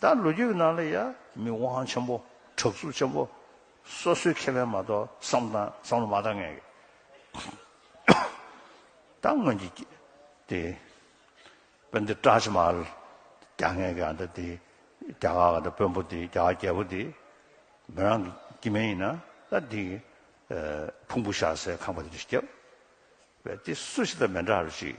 ད་ལོ་རྒྱུས་ནང་ལ་ཡ། མི་དབང་ཆེན་པོ་དྲག་རྩུབ་ཆེན་པོ། སོ་སོའི་ཁེ་ཕན་མ་གཏོགས་བསམ་དང་བསམ་བློ་མ་བཏང་མཁན་གྱི། ད་སྔོན་གྱི་དེ། དཔོན་དེ་བཀྲ་ཆེན་མ། རྒྱ་ངན་གྱི་ཨ་མདའ་དེ། རྒྱ་གར་ག་དེ་དཔོན་པོ་དེ་རྒྱ་གར་རྒྱལ་པོ་དེ། མོ་རང་གི་སྐྱེ་དམན་ཡིན་ན་ད་དེ། ཕུང་པོ་བཞག་སའི་ཁང་པ་དེ་རུ་སྐྱབས། བས་དེ་སུ་ཞིག་དང་མེ་འདྲ་རུ་ཞིག།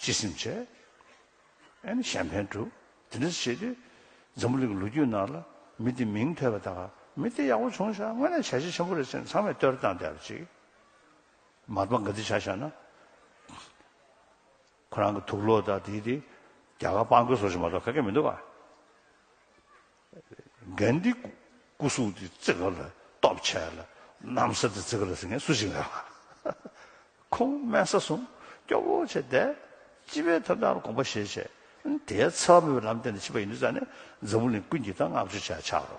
སྤྱི་སེམས་བྱས། ཨེ་ནི་གཞན་ཕན་བསྒྲུབ། དེ་འདྲ་བྱས་ཏེ། འཛམ་བུ་གླིང་གི་ལོ་རྒྱུས་ནང་ལ། མི་དེའི་མིང་ཐོས་པ་དང། མི་དེ་ཡག་པོ་བྱུང་བཞག་དངོས་གནས་བྱ་བྱེད་ཆེན་པོ་རེད་ཟེར་ནས་ཚང་མས་བསྟོད་ར་བཏང་བསྡད་པ་ཅིག། མར་པ་འགའ་འདི་བྱ་བཞག་ན། ཁོ་རང་གི་ཐུགས་བློ་དང་དེའི་དེ། རྒྱ་གར་དཔང་རྒོལ་བཟོ་བཞིན་མ་གཏོགས་ག་གེ་མི་འདུག་ག། གནྡྷེ། སྐུ་གཟུགས་དེ་བརྩེགས་ག་ལ་སྟོབས་ཆེ་ལ། གནམ་ས་དེ་བརྩེགས་ག་ལ་སྲིད་ངན་སུ་ཞིག་འགལ་བ། ཁོང་དམན་ས་གསུམ་སྐྱོ་བོ་ཆེ་བདེ། སྤྱི་བའི་ཐབས་དང་དགོངས་པ་བཞེས་བྱས། དེའི་ཚབ་བུ་ལམ་བསྟན་དུ་མཆིས་པ་ཡིན་དུས་ཙཱ་ནས་འཛམ་བུ་གླིང་ཀུན་གྱི་ཐང་ལྔ་བཅུ་ཆ་ཆགས་རོ།